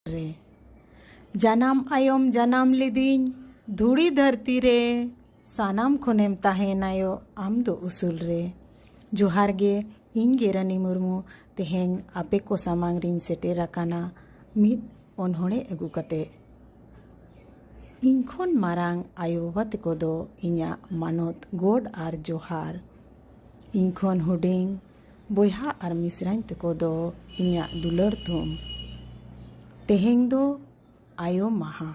ᱨᱮ ᱡᱟᱱᱟᱢ ᱟᱭᱚᱢ ᱡᱟᱱᱟᱢ ᱞᱤᱫᱤᱧ ᱫᱷᱩᱲᱤ ᱫᱷᱟᱹᱨᱛᱤ ᱨᱮ ᱥᱟᱱᱟᱢ ᱠᱷᱚᱱᱮᱢ ᱛᱟᱦᱮᱱᱟᱭᱚ ᱟᱢ ᱫᱚ ᱩᱥᱩᱞ ᱨᱮ ᱡᱚᱦᱟᱨ ᱜᱮ ᱤᱧ ᱜᱮ ᱨᱟᱱᱤ ᱢᱩᱨᱢᱩ ᱛᱮᱦᱮᱧ ᱟᱯᱮ ᱠᱚ ᱥᱟᱢᱟᱝ ᱨᱤᱧ ᱥᱮᱴᱮᱨ ᱟᱠᱟᱱᱟ ᱢᱤᱫ ᱚᱱᱚᱬᱦᱮ ᱟᱹᱜᱩ ᱠᱟᱛᱮ ᱤᱧ ᱠᱷᱚᱱ ᱢᱟᱨᱟᱝ ᱟᱭᱳ ᱵᱟᱵᱟ ᱛᱮᱠᱚ ᱫᱚ ᱤᱧᱟᱹᱜ ᱢᱟᱱᱚᱛ ᱜᱚᱰ ᱟᱨ ᱡᱚᱦᱟᱨ ᱤᱧ ᱠᱷᱚᱱ ᱦᱩᱰᱤᱧ ᱵᱚᱭᱦᱟ ᱟᱨ ᱢᱤᱥᱨᱟᱧ ᱛᱮᱠᱚ ᱫᱚ ᱤᱧᱟᱹᱜ ᱫᱩᱞᱟᱹᱲ ᱛᱩᱢ ᱛᱮᱦᱮᱧ ᱫᱚ ᱟᱭᱳ ᱢᱟᱦᱟ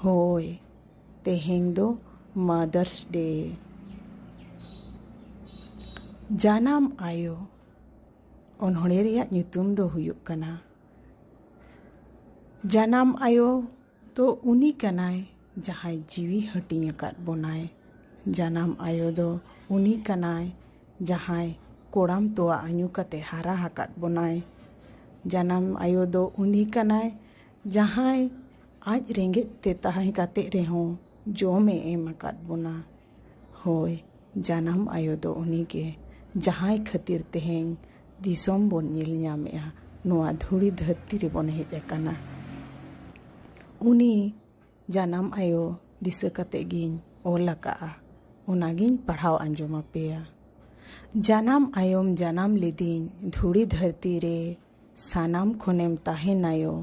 ᱦᱳᱭ ᱛᱮᱦᱮᱧ ᱫᱚ ᱢᱟᱫᱟᱨᱥ ᱰᱮ ᱡᱟᱱᱟᱢ ᱟᱭᱳ ᱚᱱᱚᱬᱦᱮ ᱨᱮᱭᱟᱜ ᱧᱩᱛᱩᱢ ᱫᱚ ᱦᱩᱭᱩᱜ ᱠᱟᱱᱟ ᱡᱟᱱᱟᱢ ᱟᱭᱳ ᱛᱚ ᱩᱱᱤ ᱠᱟᱱᱟᱭ ᱡᱟᱦᱟᱸᱭ ᱡᱤᱣᱤ ᱦᱟᱹᱴᱤᱧ ᱟᱠᱟᱫ ᱵᱚᱱᱟᱭ᱾ ᱡᱟᱱᱟᱢ ᱟᱭᱳ ᱫᱚ ᱩᱱᱤ ᱠᱟᱱᱟᱭ ᱡᱟᱦᱟᱸᱭ ᱠᱚᱲᱟᱢ ᱛᱚᱣᱟ ᱟᱹᱧᱩ ᱠᱟᱛᱮ ᱦᱟᱨᱟ ᱦᱟᱠᱟᱫ ᱵᱚᱱᱟᱭ᱾ ᱡᱟᱱᱟᱢ ᱟᱭᱳ ᱫᱚ ᱩᱱᱤ ᱠᱟᱱᱟᱭ ᱡᱟᱦᱟᱸᱭ ᱟᱡ ᱨᱮᱸᱜᱮᱡ ᱛᱮ ᱛᱟᱦᱮᱸ ᱠᱟᱛᱮ ᱨᱮᱦᱚᱸ ᱡᱚᱢ ᱮ ᱮᱢ ᱟᱠᱟᱫ ᱵᱚᱱᱟ᱾ ᱦᱳᱭ ᱡᱟᱱᱟᱢ ᱟᱭᱳ ᱫᱚ ᱩᱱᱤ ᱜᱮ ᱡᱟᱦᱟᱸᱭ ᱠᱷᱟᱹᱛᱤᱨ ᱛᱮᱦᱮᱧ ᱫᱤᱥᱚᱢ ᱵᱚᱱ ᱧᱮᱞ ᱧᱟᱢᱮᱜᱼᱟ ᱱᱚᱣᱟ ᱫᱷᱩᱲᱤ ᱫᱷᱟᱹᱨᱛᱤ ᱨᱮᱵᱚᱱ ᱦᱮᱡ ᱟᱠᱟᱱᱟ ᱩᱱᱤ ᱡᱟᱱᱟᱢ ᱟᱭᱳ ᱫᱤᱥᱟᱹ ᱠᱟᱛᱮ ᱜᱤᱧ ᱚᱞ ᱟᱠᱟᱫᱼᱟ ᱚᱱᱟᱜᱤᱧ ᱯᱟᱲᱦᱟᱣ ᱟᱸᱡᱚᱢ ᱟᱯᱮᱭᱟ ᱡᱟᱱᱟᱢ ᱟᱭᱳᱢ ᱡᱟᱱᱟᱢ ᱞᱤᱫᱤᱧ ᱫᱷᱩᱲᱤ ᱫᱷᱟᱹᱨᱛᱤ ᱨᱮ ᱥᱟᱱᱟᱢ ᱠᱷᱚᱱᱮᱢ ᱛᱟᱦᱮᱱᱟᱭᱳ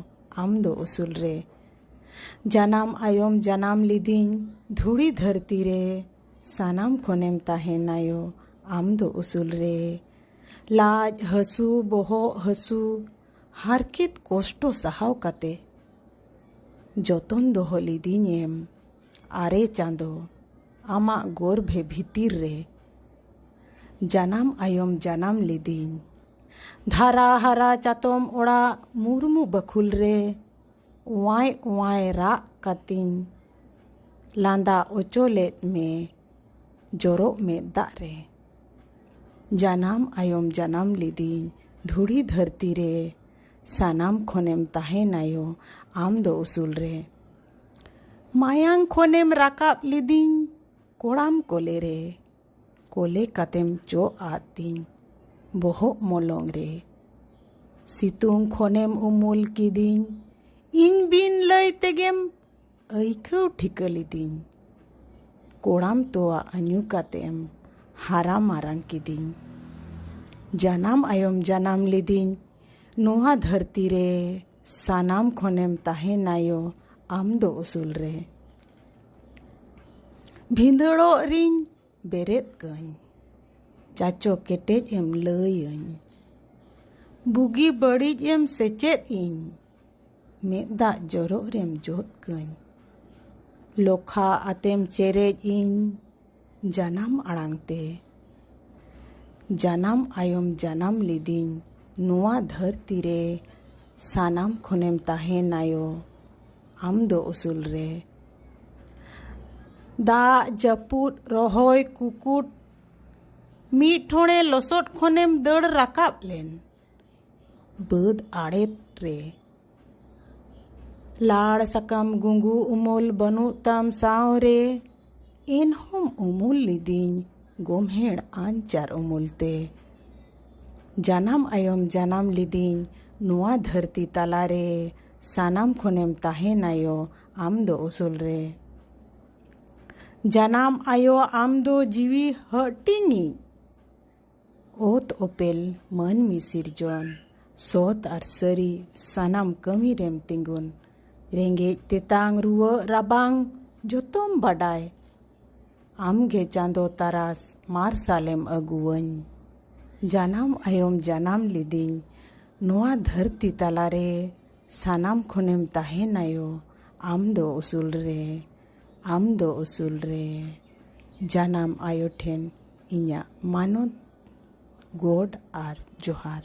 ᱟᱢ ᱫᱚ ᱩᱥᱩᱞ ᱨᱮ ᱡᱟᱱᱟᱢ ᱟᱭᱳᱢ ᱡᱟᱱᱟᱢ ᱞᱤᱫᱤᱧ ᱫᱷᱩᱲᱤ ᱫᱷᱟᱹᱨᱛᱤ ᱨᱮ ᱥᱟᱱᱟᱢ ᱠᱷᱚᱱᱮᱢ ᱛᱟᱦᱮᱱᱟᱭᱳ ᱟᱢ ᱫᱚ ᱩᱥᱩᱞ ᱨᱮ ᱞᱟᱡ ᱦᱟᱹᱥᱩ ᱵᱚᱦᱚᱜ ᱦᱟᱹᱥᱩ ᱦᱟᱨᱠᱮᱛ ᱠᱚᱥᱴᱚ ᱥᱟᱦᱟᱣ ᱠᱟᱛᱮ ᱡᱚᱛᱚᱱ ᱫᱚᱦᱚ ᱞᱤᱫᱤᱧᱮᱢ ᱟᱨᱮ ᱪᱟᱸᱫᱚ ᱟᱢᱟᱜ ᱜᱚᱨᱵᱷᱮ ᱵᱷᱤᱛᱤᱨ ᱨᱮ ᱡᱟᱱᱟᱢ ᱟᱭᱚᱢ ᱡᱟᱱᱟᱢ ᱞᱤᱫᱤᱧ ᱫᱷᱟᱨᱟ ᱦᱟᱨᱟ ᱪᱟᱛᱚᱢ ᱚᱲᱟᱜ ᱢᱩᱨᱢᱩ ᱵᱟᱹᱠᱷᱩᱞ ᱨᱮ ᱚᱣᱟᱭ ᱚᱣᱟᱭ ᱨᱟᱜ ᱠᱟᱛᱤᱧ ᱞᱟᱸᱫᱟ ᱚᱪᱚ ᱞᱮᱫ ᱢᱮ ᱡᱚᱨᱚᱜ ᱢᱮᱫ ᱫᱟᱜ ᱨᱮ ᱡᱟᱱᱟᱢ ᱟᱭᱚᱢ ᱡᱟᱱᱟᱢ ᱞᱤᱫᱤᱧ ᱫᱷᱩᱲᱤ ᱫᱷᱟᱹᱨᱛᱤ ᱨᱮ ᱥᱟᱱᱟᱢ ᱠᱷᱚᱱᱮᱢ ᱛᱟᱦᱮᱱᱟᱭᱚ ᱟᱢ ᱫᱚ ᱩᱥᱩᱞ ᱨᱮ ᱢᱟᱭᱟᱝ ᱠᱷᱚᱱᱮᱢ ᱨᱟᱠᱟᱵ ᱞᱤᱫᱤᱧ ᱠᱚᱲᱟᱢ ᱠᱚᱞᱮ ᱨᱮ ᱠᱚᱞᱮ ᱠᱟᱛᱮᱢ ᱪᱚᱜ ᱟᱫ ᱛᱤᱧ ᱵᱚᱦᱚᱜ ᱢᱚᱞᱚᱝ ᱨᱮ ᱥᱤᱛᱩᱝ ᱠᱷᱚᱱᱮᱢ ᱩᱢᱩᱞ ᱠᱤᱫᱤᱧ ᱤᱧ ᱵᱤᱱ ᱞᱟᱹᱭ ᱛᱮᱜᱮᱢ ᱟᱹᱭᱠᱟᱹᱣ ᱴᱷᱤᱠᱟᱹ ᱞᱤᱫᱤᱧ ᱠᱚᱲᱟᱢ ᱛᱚᱣᱟ ᱟᱹᱧᱩ ᱠᱟᱛᱮᱢ ᱦᱟᱨᱟ ᱢᱟᱨᱟᱝ ᱠᱤᱫᱤᱧ ᱡᱟᱱᱟᱢ ᱟᱭᱚᱢ ᱡᱟᱱᱟᱢ ᱞᱤᱫᱤᱧ ᱱᱚᱣᱟ ᱫᱷᱟᱹᱨᱛᱤ ᱨᱮ ᱥᱟᱱᱟᱢ ᱠᱷᱚᱱᱮᱢ ᱛᱟᱦᱮᱱᱟᱭᱳ ᱟᱢ ᱫᱚ ᱩᱥᱩᱞ ᱨᱮ ᱵᱷᱤᱸᱫᱟᱹᱲᱚᱜ ᱨᱤᱧ ᱵᱮᱨᱮᱫ ᱠᱟᱹᱧ ᱪᱟᱪᱚ ᱠᱮᱴᱮᱡ ᱮᱢ ᱞᱟᱹᱭᱟᱹᱧ ᱵᱩᱜᱤ ᱵᱟᱹᱲᱤᱡ ᱮᱢ ᱥᱮᱪᱮᱫ ᱤᱧ ᱢᱮᱫ ᱫᱟᱜ ᱡᱚᱨᱚᱜ ᱨᱮᱢ ᱡᱚᱫ ᱠᱟᱹᱧ ᱞᱚᱠᱷᱟ ᱟᱛᱮᱢ ᱪᱮᱨᱮᱡ ᱤᱧ ᱡᱟᱱᱟᱢ ᱟᱲᱟᱝ ᱛᱮ ᱡᱟᱱᱟᱢ ᱟᱭᱚᱢ ᱡᱟᱱᱟᱢ ᱞᱤᱫᱤᱧ ᱱᱚᱣᱟ ᱫᱷᱟᱹᱨᱛᱤ ᱨᱮ ᱥᱟᱱᱟᱢ ᱠᱷᱚᱱᱮᱢ ᱛᱟᱦᱮᱱᱟᱭᱚ ᱟᱢ ᱫᱚ ᱩᱥᱩᱞ ᱨᱮ ᱫᱟᱜ ᱡᱟᱹᱯᱩᱫ ᱨᱚᱦᱚᱭ ᱠᱩᱠᱩᱴ ᱢᱤᱫ ᱴᱷᱚᱬᱮ ᱞᱚᱥᱚᱫ ᱠᱷᱚᱱᱮᱢ ᱫᱟᱹᱲ ᱨᱟᱠᱟᱵ ᱞᱮᱱ ᱵᱟᱹᱫᱽ ᱟᱲᱮ ᱨᱮ ᱞᱟᱲ ᱥᱟᱠᱟᱢ ᱜᱩᱸᱜᱩ ᱩᱢᱩᱞ ᱵᱟᱹᱱᱩᱜ ᱛᱟᱢ ᱥᱟᱶ ᱨᱮ ᱮᱱᱦᱚᱸᱢ ᱩᱢᱩᱞ ᱞᱤᱫᱤᱧ ᱜᱚᱢᱦᱮᱲ ᱟᱧᱪᱟᱨ ᱩᱢᱩᱞ ᱛᱮ ᱡᱟᱱᱟᱢ ᱟᱭᱚᱢ ᱡᱟᱱᱟᱢ ᱞᱤᱫᱤᱧ ᱱᱚᱣᱟ ᱫᱷᱟᱹᱨᱛᱤ ᱛᱟᱞᱟ ᱨᱮ ᱥᱟᱱᱟᱢ ᱠᱷᱚᱱᱮᱢ ᱛᱟᱦᱮᱱᱟᱭᱚ ᱟᱢ ᱫᱚ ᱩᱥᱩᱞ ᱨᱮ ᱡᱟᱱᱟᱢ ᱟᱭᱚ ᱟᱢ ᱫᱚ ᱡᱤᱣᱤ ᱦᱟᱹᱴᱤᱧᱤᱡ ᱚᱛ ᱚᱯᱮᱞ ᱢᱟᱹᱱᱢᱤ ᱥᱤᱨᱡᱚᱱ ᱥᱚᱛ ᱟᱨ ᱥᱟᱹᱨᱤ ᱥᱟᱱᱟᱢ ᱠᱟᱹᱢᱤ ᱨᱮᱢ ᱛᱤᱸᱜᱩᱱ ᱨᱮᱸᱜᱮᱡ ᱛᱮᱛᱟᱝ ᱨᱩᱣᱟᱹᱜ ᱨᱟᱵᱟᱝ ᱡᱚᱛᱚᱢ ᱵᱟᱰᱟᱭ ᱟᱢᱜᱮ ᱪᱟᱸᱫᱚ ᱛᱟᱨᱟᱥ ᱢᱟᱨᱥᱟᱞᱮᱢ ᱟᱹᱜᱩᱣᱟᱹᱧ ᱡᱟᱱᱟᱢ ᱟᱭᱚᱢ ᱡᱟᱱᱟᱢ ᱞᱤᱫᱤᱧ ᱱᱚᱣᱟ ᱫᱷᱟᱹᱨᱛᱤ ᱛᱟᱞᱟᱨᱮ ᱥᱟᱱᱟᱢ ᱠᱷᱚᱱᱮᱢ ᱛᱟᱦᱮᱱᱟᱭᱚ ᱟᱢ ᱫᱚ ᱩᱥᱩᱞ ᱨᱮ ᱟᱢ ᱫᱚ ᱩᱥᱩᱞ ᱨᱮ ᱡᱟᱱᱟᱢ ᱟᱭᱳ ᱴᱷᱮᱱ ᱤᱧᱟᱹᱜ ᱢᱟᱱᱚᱛ ᱜᱚᱰ ᱟᱨ ᱡᱚᱦᱟᱨ